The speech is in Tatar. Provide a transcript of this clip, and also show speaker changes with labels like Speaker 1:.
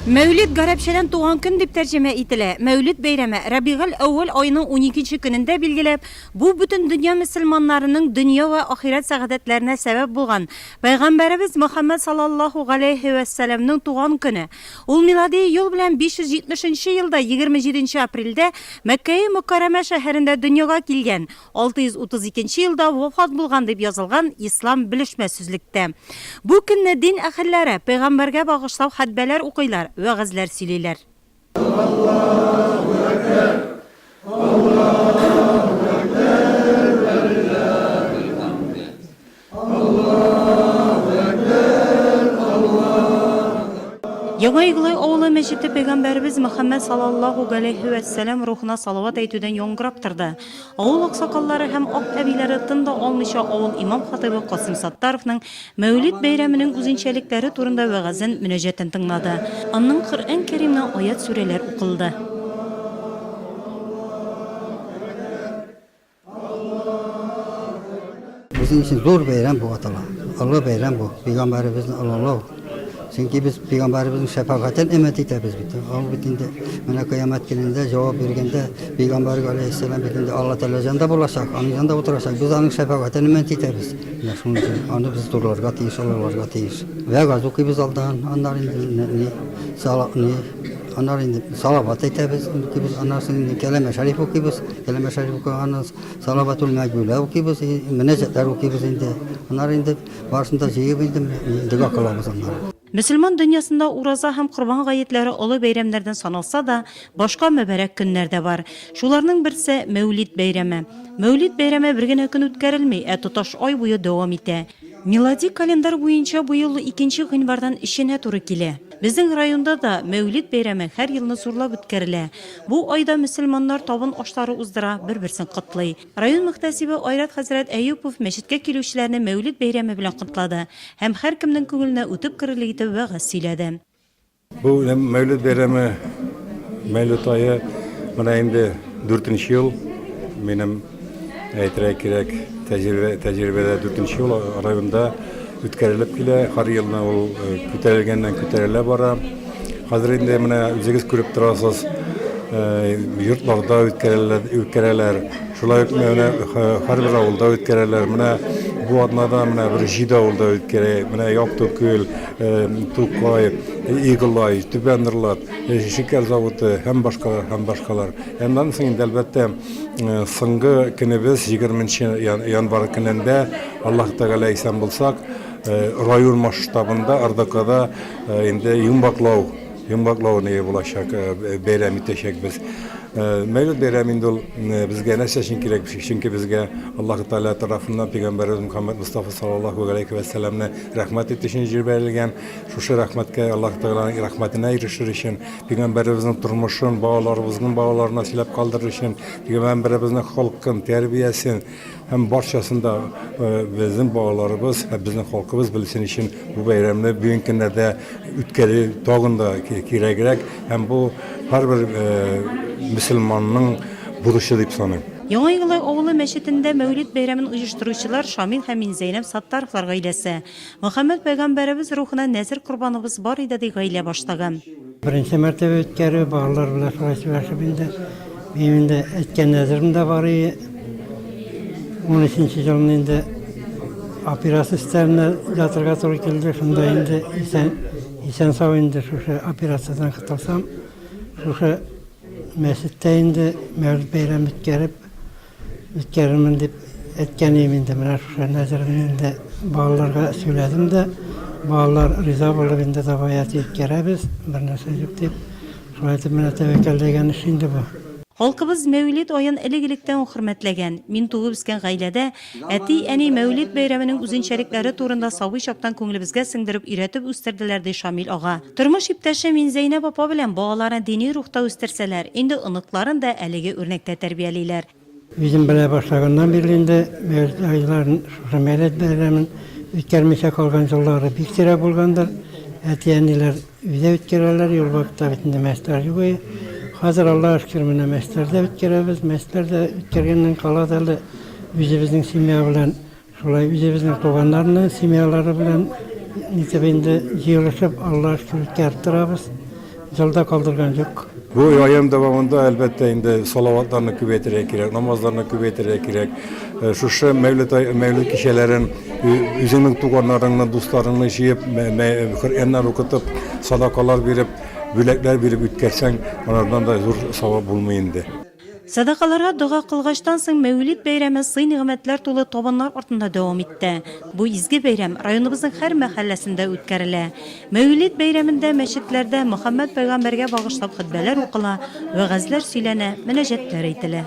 Speaker 1: Мәүлид гарәпчәдән туган көн дип тәрҗемә ителә. Мәүлид бәйрәме, Рабигель-әүвәл аеның уникенче көнендә билгеләп, бу бөтен дөнья мөселманнарының дөнья вә ахирәт сәгадәтләренә сәбәп булган Пәйгамбәребез Мөхәммәд саллаллаһу галәйһи вә сәләмнең туган көне. Ул милади ел белән 570 нче елда егерме җиденче апрельдә Мәккәи Мөккәрәмә шәһәрендә дөньяга килгән. 632 елда вафат булган дип язылган Ислам белешмә сүзлектә. Бу көнне дин әһелләре пәйгамбәргә багышлау хәтбәләр укыйлар, вәгазьләр сөйлиләр. Аллаһу әкбәр! Аллаһу әкбәр! Вәлиллаһил хәмд! Яңа Иглай авылы мәчете пәйгамбәребез Мөхәммәд салаллаһу галәйһи вә сәлам рухына салават әйтүдән яңгырап торды. Авыл аксакаллары һәм ак әбиләре тын да алмыйча авыл имам-хатыйбы Касыйм Саттаровның Мәүлид бәйрәменең үзенчәлекләре турында вәгазен, мөнәҗәтен тыңлады. Аннан Коръән Кәримнән аять-сүрәләр укылды.
Speaker 2: Безнең өчен зур бәйрәм бу атала. Олы бәйрәм бу. Пәйгамбәребезне олылау. Чөнки без пәйгамбәребезнең шәфәгатен өмет итәбез бит. Ул бит инде менә кыямәт көнендә җавап биргәндә пәйгамбәргә алейһиссәлам бит инде Алла Тәгалә җанда булачак, аның җанда утырачак. Без аның шәфәгатен өмет итәбез. Менә шуның өчен аны без зурларга тиеш, олыларга тиеш. Вәгазь укыйбыз алдан, аннары инде не, сала, не, Аннары инде салават әйтәбез, укыйбыз. Аннары соң инде кәләмә шәриф укыйбыз. Кәләмә шәриф укыганнан салаватул мәгүлә укыйбыз, мөнәҗәтләр укыйбыз инде. Аннары инде барысын да җыеп инде дога кылабыз аннары. Мөселман дөньясында
Speaker 1: ураза һәм корбан гаетләре олы бәйрәмнәрдән саналса да, башка мөбарәк көннәр дә бар. Шуларның берсе, Мәүлид бәйрәме. Мәүлид бәйрәме бер генә көн үткәрелми, ә тоташ ай буе дәвам итә. Милади календарь буенча быел икенче гыйнвардан эченә туры килә. Безнең районда да Мәүлид бәйрәме һәр елны зурлап үткәрелә. Бу айда мөселманнар табын ашлары уздыра, бер-берсен котлый. Район мөхтәсибе Айрат хәзрәт Әюпов мәчеткә килүчеләрне Мәүлид бәйрәме белән котлады һәм һәркемнең күңеленә үтеп керерлек итеп вәгазь сөйләде. Бу
Speaker 3: Мәүлид бәйрәме, Мәүлид ае менә инде дүртенче ел минем. Әйтергә кирәк, тәҗрибә, тәҗрибәдә дүртенче ел районда үткәрелеп килә. Һәр елны ул э, күтәрелгәннән күтәрелә бара. Хәзер инде менә үзегез күреп торасыз, э, йортларда үткәрәләр, үткәрәләр. Шулай ук менә һәрбер авылда үткәрәләр. Менә бу атнада менә бер җиде авылда үткәрә. Менә Яктүкел, э, Тукай, Иглай, Түбән Норлат, э, шикәр заводы һәм башкалар һәм башкалар. Аннан соң инде әлбәттә Соңгы көнебез, егерменче январь көнендә, Аллаһ Тәгалә исән булсак, район масштабында РДКда инде йомгаклау, йомгаклау ние булачак, бәйрәм итәчәкбез. Мәүлид бәйрәм инде ул безгә нәрсә өчен кирәк? Чөнки безгә Аллаһ Тәгалә тарафыннан пәйгамбәребез Мөхәммәд Мостафа саллаллаһу галәйһи вә сәлләмне рәхмәт итү өчен җибәрелгән. Шушы рәхмәткә, Аллаһ Тәгаләнең рәхмәтенә ирешер өчен Пигамбәребезнең тормышын балаларыбызның балаларына сөйләп калдырыр өчен, пигамбәребезнең холкын, тәрбиясен һәм барчасын да безнең балаларыбыз һәм безнең халкыбыз белсен өчен бу бәйрәмне бүгенге көннәрдә үткәрү тагын да кирәгрәк һәм бу һәрбер мөселманның бурычы дип саныйм. Яңа Елай авылы
Speaker 1: мәчетендә Мәүлид бәйрәмен оештыручылар Шамил һәм Минзәйнәп Саттаровлар гаиләсе. Мөхәммәд пәйгамбәребез рухына нәзер корбаныбыз бар иде, ди гаилә башлыгы. Беренче мәртәбә
Speaker 4: үткәрү, балалар белән шулай сөйләшеп инде. Минем инде әйткән нәзерем дә бар иде. Унөченче елны инде операция өстәленә ятырга туры килде. Шунда инде исән, исән-сау инде шушы операциядән котылсам, шушы мәчеттә инде мәүлид бәйрәме үткәреп, үткәрермен дип әйткән идем инде, менә шушы нәзерне инде балаларга сөйләдем дә, балалар риза булып инде давай әти үткәрәбез, бернәрсә юк дип, шулай итеп менә тәвәккәлләгән эш инде бу. Халкыбыз Мәүлид
Speaker 1: аен элек-электән үк хөрмәтләгән. Мин туып үскән гаиләдә әти, әни Мәүлид бәйрәменең үзенчәлекләре турында сабый чактан күңелебезгә сеңдереп, өйрәтеп үстерделәр, ди Шамил ага. Тормыш иптәше Минзәйнәп апа белән балаларны дини рухта үстерсәләр, инде оныкларын да әлеге үрнәктә тәрбиялиләр. Үзем белә
Speaker 4: башлаганнан бирле инде мәүлет айларын, шушы мәүлет бәйрәмен үткәрмичә калган еллары бик сирәк булгандыр. Әти-әниләр өйдә үткәрәләр, ел вакытта бит инде мәчетләр юк иде. Хәзер, Аллага шөкер, менә мәчетләрдә үткәрәбез. Мәчетләр дә үткәргәннән кала да әле үзебезнең семья белән. Шулай үзебезнең туганнарны семьялары белән итеп инде җыелышып Аллага шөкер үткәреп торабыз. Җылда калдырган юк. Бу аем дәвамында
Speaker 3: әлбәттә инде салаватларны күбәйтергә кирәк, намазларны күбәйтергә кирәк. Шушы мәүлет ай, мәүлет кичәләрен үзеңнең туганнарыңны, дусларыңны җыеп, Коръәннәр укытып, садакалар биреп, бүләкләр биреп үткәрсәң, анардан да зур савап булмый инде. Сәдакаларга
Speaker 1: дога кылгачтан соң Мәүлид бәйрәме сый-нигъмәтләр тулы табыннар артында дәвам итте. Бу изге бәйрәм районыбызның һәр мәхәлләсендә үткәрелә. Мәүлид бәйрәмендә мәчетләрдә Мөхәммәд пәйгамбәргә багышлап хөтбәләр укыла, вәгазьләр сөйләнә, мөнәҗәтләр әйтелә.